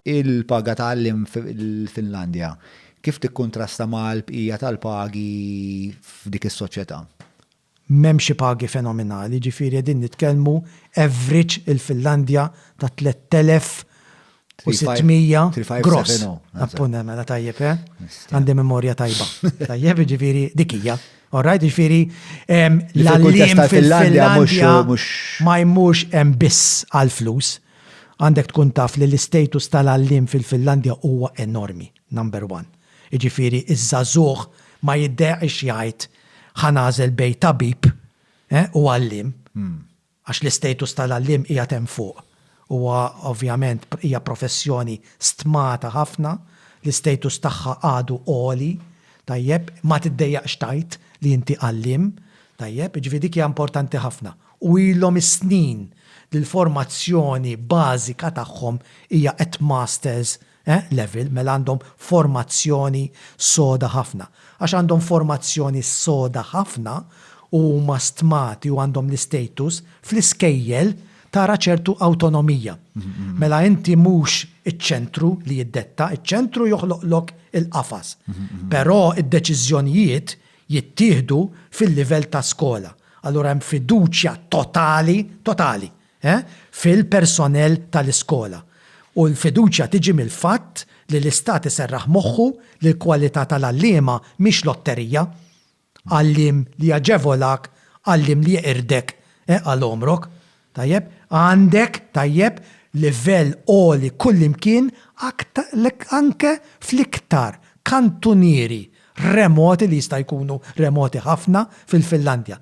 Il-paga ta' għalliem fil-Finlandja kif tikkuntrasta mal-bqija tal-pagi f'dik is-soċjetà? M'hemm xi pagi fenominali, jiġifieri qegħdin nitkellmu average il-Finlandja ta' 3,600 gross. 3,570. Mela tajjeb, eh? Għandi memorja tajba. Tajjeb, jiġifieri dik hija. All right, jiġifieri l-għalliem fil-Finlandja ma jmurx hemm biss għall-flus, Għandek tkun taf li l-istatus tal-għalliem fil-Finlandja huwa enormi, number one. Jiġifieri ż-żagħżugħ ma jiddeqx jgħid ħa nagħżel bejn tabib u għalliem għax l-istatus tal-għalliem qiegħed hemm fuq. Huwa ovvjament hija professjoni stmata ħafna, l-istatus tagħha għadu għoli, tajjeb, ma tiddejjaqx tgħid li inti għalliem, tajjeb, jiġifieri dik hija importanti ħafna. u ilhom is-snin li l-formazzjoni bażika tagħhom hija at masters level, mela għandhom formazzjoni soda ħafna. Għax għandhom formazzjoni soda ħafna u huma stmati u għandhom l-istatus, fl-iskejjel tara ċertu awtonomija. Mela inti mhux iċ-ċentru li jiddetta, iċ-ċentru joħloqlok il-qafas. Però d-deċiżjonijiet jittieħdu fil-livell ta' skola. Allura hemm fiduċja totali, totali, eh, fil-personell tal-iskola. U l-fiduċja tiġi mill-fatt li l-Istat iserraħ moħħu li l-kwalità tal-għalliema mhix lotterija, għalliem li jaġevolak, għalliem li jeqirdek, eh, għal għomrok. Tajjeb, għandek, tajjeb, livell għoli kullimkien anke fl-iktar kantunieri remoti li jista' jkunu remoti ħafna fil-Finlandja.